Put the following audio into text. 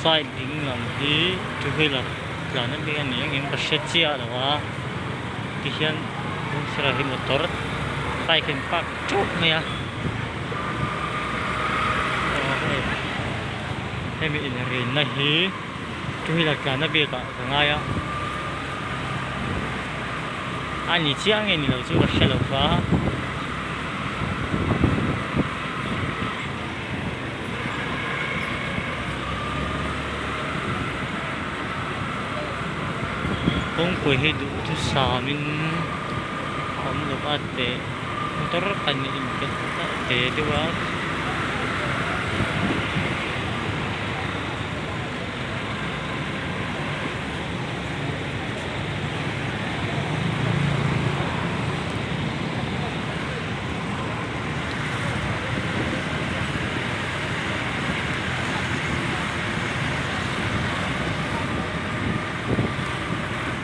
Side ding lam hi two wheeler tlan anih a nih angin ka hre chiah lo a tihian hnung sirah hi motor bike a in park teuh mai a. hemi inrinna hi two wheeler tlanna biakah ka ngai a a ni chiang nge ni lo chu ka hre lo va kawngpui hi duhthusam in awm loh a teh-- motor khan in in pe ta te deuh a